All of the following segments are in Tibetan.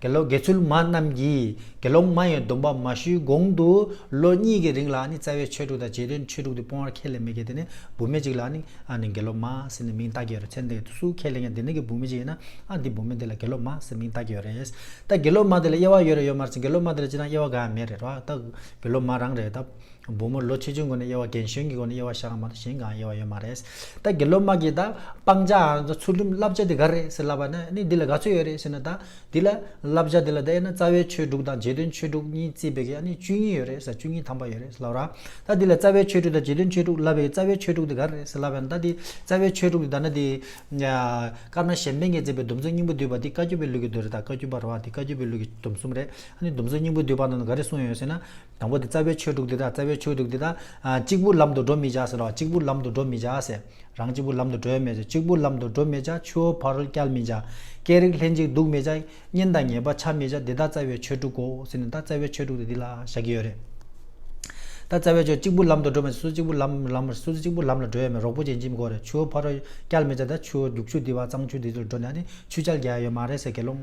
དགེ་སློབ་དགེ་ཚུལ་མ་རྣམས་ཀྱིས་དགེ་སློང་མ་ཡི་སྡོམ་པ་མ་ཞུས་གོང་དུ་ལོ་གཉིས་ཀྱི་རིང་ལ་ནི་རྩ་བའི་ཆོས་དྲུག་དང་རྗེས་དྲན་ཆོས་དྲུག་དེ་སྤོང་བར་ཁས་ལེན་མི་དགེ་དེ་ནི་བུ་མེད་ཅིག་ལ་ནི་ཨ་ནི་དགེ་སློབ་མ་ཟེར་ནས་མིང་བཏགས་ཀྱི་ཡོད་རེད་ཚེ་འདི་ཡོད་སུ་ཁས་ལེན་ཡང་དེ་ནི་གི་བུ་མེད་ཅིག་ཡིན་ན་ཨ་འདི་བུ་མེད་འདི་ལ་དགེ་སློབ་མ་ཟེར་མིང་བཏགས་ཀྱི་ཡོད་རེད་ད་དགེ་སློབ་མ་དེ་ལ་དབྱེ་བ་ཡོད་རེད་ཡོད་མ་རེད་དགེ་སློབ་མ་དེ་ལ་ཅི་ན་དབྱེ་བ་གང་ཡང་མེད་རེད་རོ་ད་དགེ་སློབ་མ་རང་རེད་ད། བུ་མོ་ལོ་ཆེ་ཆུང་དགོན་ནས་དབྱེ་བ་རྒན་གཞོན་གྱི་དགོན་ནས་དབྱེ་བ་བྱ་བ་མ་གཏོགས་གཞན་གང་དབྱེ་བ་ཡོད་མ་རེད། ད་དགེ་སློབ་དམག་གིས་ད་སྤང་བྱ་འང་ཚུལ་ཁྲིམས་བསླབ་བྱ་དེ་ག་རེད་ཟེར་ལབ་པ་ན་ནི་འདི་ལ་ག་ཚོད་ཡོད་རེད་ཟེར་ན་ད་འདི་ལ་བསླབ་བྱ་འདི་ལ་ད་དབྱེ་ན་རྩ་བའི་ཆོས་དྲུག་དང་རྗེས་དོན་ཆོས་དྲུག་གཉིས་བརྩིས་པའི་གན་ནི་བཅུ་གཉིས་ཡོད་རེད་ཟེར་བཅུ་གཉིས་ཐམ་པ་ཡོད་རེད་ཟེར་ལབ་ར། ད་འདི་ལ་རྩ་བའི་ཆོས་དྲུག་དང་རྗེས་དོན་ཆོས་དྲུག་བསླབ་པའི་རྩ་བའི་ཆོས་དྲུག་དེ་ག་རེད་ཟེར་ལབ་པ་ན་ད་འདི་རྩ་བའི་ཆོས་དྲུག་དེ་ད་ན་འདི། སྐར་མ་གཞན་ཕན་གྱིས་མཛད་པའི་སྡོམ་བརྩོན་སྙིང་པོ་བསྡུས་པ་འདི་བཀའ་བརྒྱུད་པའི་ལུགས་ཀྱི་མདོ་རེད་ད་བཀའ་བརྒྱུད་པར་བ་འདི་བཀའ་བརྒྱུད་པའི་ལུགས་ཀྱི་སྡོམ་གསུམ་རེད་ཨ་ནི་སྡོམ་བརྩོན་སྙིང་པོ་བསྡུས་པ་ནང་དུ་ག་རེ་གསུངས་ཡོད་ཟེར་ན། དང་པོ་དེ་རྩ་བའི་ཆོས་དྲུག་འདི་དག་རྩ་བའི་ཆོས་དྲུག་འདི་དག། གཅིག་པུར་ལམ་དུ་འགྲོ་མི་བྱ་ཟེར་རོ་གཅིག་པུར་ལམ་དུ་འགྲོ་མི་བྱ་ཟེར། རང་གཅིག་པུར་ལམ་དུ་བགྲོད་མི་བྱ་གཅིག་པུར་ལམ་དུ་འགྲོ་མི་བྱ་ཆུ་བོ་བར་བསྐྱལ་མི་བྱ། སྐད་རིགས་ལྷན་ཅིག་འདུག་མི་བྱ། གཉེན་དང་ཉེས་པ་བྱ་མི་བྱ་འདི་དག་རྩ་བའི་ཆོས་དྲུག་གོ་ཟེར་ནས་ད་རྩ་བའི་ཆོས་དྲུག་དེ་འདི་ལ་བཞག་གི་ཡོད་རེད། ད་རྩ་བའི་ཆོས་གཅིག་པུར་ལམ་དུ་འགྲོ་མི་བྱ་སུ་གཅིག་པུར་ལམ་ལམ་མི་བྱ་སུ་གཅིག་པུར་ལམ་ལ་བགྲོད་ཡས་མས་རོགས་པོ་ཅན་གཅིག་མི་དགོས་རེད་ཆུ་བོ་བར་བསྐྱལ་མི་བྱ་ད་ཆུ་བོ་རྒྱུག་ཆུ་འདི་བ་གཙང་ཆུ་འདི་ཚོར་འགྲོ་ནས་ཨ་ནི་ཆུ་བྱལ་རྒྱག་ཡས་མ་རེད་ཟེར་དགེ་སློང་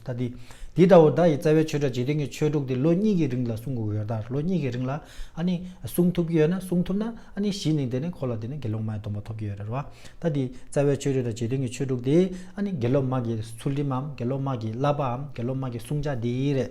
ད་དེ་འདི་ལྟ་བུ་བདག་ཡི་རྩ་བའི་ཆོས་སྒྲ་ཇི་སྟེང་གི་ཆོས་དྲུག་དེ་ལོ་གཉིས་ཀྱི་རིང་ལ་གསུང་དགོས་ཡོད་དཱ་ལོ་གཉིས་ཀྱི་རིང་ལ་ཨ་ནི་གསུང་ཐུབ་ཀྱི་ཡོད་ན་གསུང་ཐུབ་ན་ཨ་ནི་གཞི་ནི་དེ་ནི་ཁོ་ལ་དེ་ནི་དགེ་སློང་མའི་སྡོམ་པ་ཐོབ་ཀྱི་ཡོད་རེད་ར་བ་ད་དེ་རྩ་བའི་ཆོས་སྒྲ་ཇི་སྟེང་གི་ཆོས་དྲུག་དེ་ཨ་ནི་དགེ་སློབ་མ་གི་ཚུལ་ཁྲིམས་འམ་དགེ་སློབ་མ་གི་བསླབ་པ་འམ་དགེ་སློབ་མ་གི་བསྲུང་བྱ་འདི་རེད།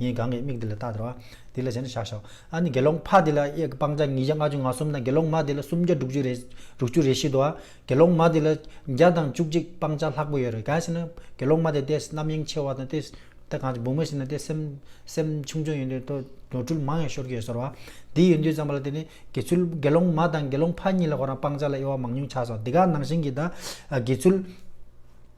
ངའི་གང་གི་མིག་འདི་ལ་བལྟ་དར་བ། འདི་ལ་གཞན་དུ་བཞག་ཤོག། ཨ་ནི་དགེ་སློང་ཕ་དེ་ལ་གཡས་ཀྱི་སྤང་བྱ་ཉིས་བརྒྱ་ལྔ་བཅུ་ང་གསུམ་དང་དགེ་སློང་མ་དེ་ལ་སུམ་བརྒྱ་དྲུག་ཅུ་རེ། དྲུག་ཅུ་རེ་བཞི་དུ། དགེ་སློང་མ་དེ་ལ། བརྒྱ་དང་བཅུ་གཅིག་སྤང་བྱ་ལྷག་པོ་ཡོད་རེ་གལ་སྲིད་ན། དགེ་སློང་མ་དེ་ལྟའི་རྣམ་གཡེང་ཆེ་བ་དང་ལྟའི། ལྟ་གང་ཅི་འབུགས་མ་ཞིག་ན་ལྟའི་སེམས། སེམས་ཆུང་ཆུང་ཡིན་དུས་དུ་ནོར་འཁྲུལ་མང་ཡང་ཤོར་གྱི་ཡོད་ཟེར་བ། འདི་ཡིན་དུས་ཙམ་པ་ལ་དེ་ནི། དགེ་ཚུལ་དགེ་སློང་མ་དང་དགེ་སློང་ཕ་གཉིས་ལ་ཁོ་རང་སྤང་བྱ་ལ་དབྱེ་བ་མང་ཉུང་ཆགས་སོ་འདི་ག་ནང་བཞིན་གྱི་དག། དགེ་ཚུལ།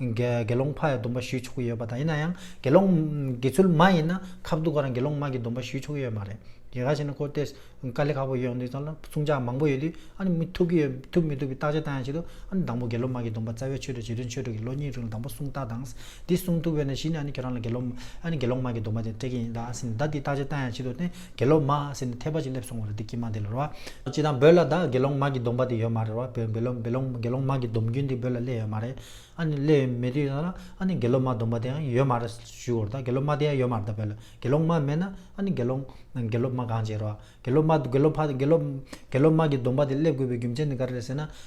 དགེ་སློང་ཕ་ཡི་སྡོམ་པ་ཞུས་ཆོག་གི་ཡོད་པ་དང་ཡིན་ན་ཡང་དགེ་སློང་དགེ་ཚུལ་མ་ཡིན་ན་ཁ་བསྡུ་ག་རང་དགེ་སློང་མ་གི་སྡོམ་པ་ཞུས་ཆོག་གི་ཡོད་མ་རེད། དེ་ག་ཞིག་ན་ཁོ་སྟེ་དཀའ་ལས་ཁག་པོ་ཡོད་འདུག་ཙང་ལ་བསྲུང་བྱ་མང་པོ་ཡོད་དུས་ཨ་ནི་མི་ཐུབ་ཀི་ཡོད་ཐུབ་མི་ཐུབ་ཀི་བརྟག་དཔྱད་བལྟ་ཡང་བྱེད་དུས་ཨ་ནི་དང་པོ་དགེ་སློང་མ་གི་སྡོམ་པ་རྩ་བའི་ཆོས་དུ་བྱེད་དོན་ཆོས་དྲུག་གི་ལོ་གཉིས་རིང་ལ་དང་པོ་བསྲུང་བརྟག་དང། འདི་བསྲུང་ཐུབ་བས་ན་གཞི་ནས་ཨ་ནི་ཁྱོད་རང་ལ་དགེ་སློང་མ་ཨ་ནི་དགེ་སློང་མ་གི་སྡོམ་པ་དེ་སྤྲད་ཀི་ཡིན་ད་ཨ་ཟིན་ད་འདི་བརྟག་དཔྱད་བལྟ་ཡང་བྱེད་དུས་ཨ་ནི་དགེ་སློང་མ་ཨ་སེ་ནི་ཐལ་བ་ཅིག་སླེབས་སོང་བ་རེད་དེ་ཀྱེ་མ་དེ་ལོར་བ། ཅི་དང་འབོད་ལ་བདག་དགེ་སློང་མ་གི་སྡོམ་པ་དེ་ཡོད་མ་རེད་བ། བོད་འབོད་འབོད་ལོང་དགེ་སློང་མ་གི་སྡོམ་རྒྱུན་དེ་འབོད་ལ་སླེ་ཡོད་མ་རེད། ཨ་ནི་སླེ་ཡོད་མེད་དུས་ཡོད་ན་ཨ་ནི་དགེ་སློང་མ་སྡོམ་པ་དེ་ཡང་ཡོད་མ་རེད་ཞུས་གོ་རེད་དགེ་སློང་མ་དེ་ཡང་ཡོད་མ་རེད་བོད་ལ་དགེ་སློང་མ་མེད་ན་ཨ་ནི་དགེ་སློང་དགེ་སློབ་མ་གང་བྱེད་རེད་བ། དགེ་སློབ་མ་དགེ་སློབ་ཕ་དགེ་སློབ་དགེ་སློང་མ་གི་སྡོམ་པ་དེ་སླེབས་དགོས་པའི་རྒྱུ་མཚན་དེ་ག་རེ་རེད་ཟེར་ན།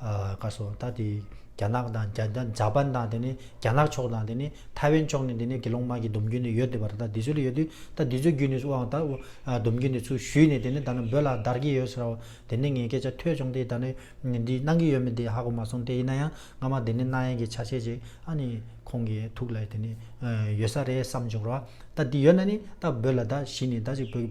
བཀའ་སོགས་ད་དེ་རྒྱ་ནག་དང་རྒྱ་དང་འཇའ་པན་དང་དེ་ནས་རྒྱ་ནག་ཕྱོགས་དང་དེ་ནས་ཐའེ་ཝན་ཕྱོགས་ནས་དེ་ནས་དགེ་སློང་མ་གི་སྡོམ་རྒྱུན་ནི་ཡོད་དེ་བར་ད་དེ་ཚོ་ལ་ཡོད་དུས་ད་དེ་ཚོའི་རྒྱུན་ནས་སུ་འང་ད་སྡོམ་རྒྱུན་དེ་ཚུ་ཞུས་ནས་དེ་ནས་ད་ནི་འབོད་ལ་བདར་གྱི་ཡོད་ཟེར་རོ་དེ་ནས་ངས་སྐད་ཆ་ཐོས་བྱུང་དེ་ད་ནི་འདི་གནང་གི་ཡོད་མེད་དེ་ཧ་གོ་མ་སོང་དེ་ཡིན་ན་ཡང་སྔ་མ་དེ་ནས་གནང་ཡན་གྱི་ཆ་བྱད་ཅིག་ཨ་ནི་ཁོང་གི་ཐུགས་ལ་དེ་ནི་ཡོད་ས་རེད་བསམ་བྱུང་རོ་ད་དེ་ཡོད་ན་ནི་ད་འབོད་ལ་ད་གཞི་ནས་ད་ཅིག་འབོད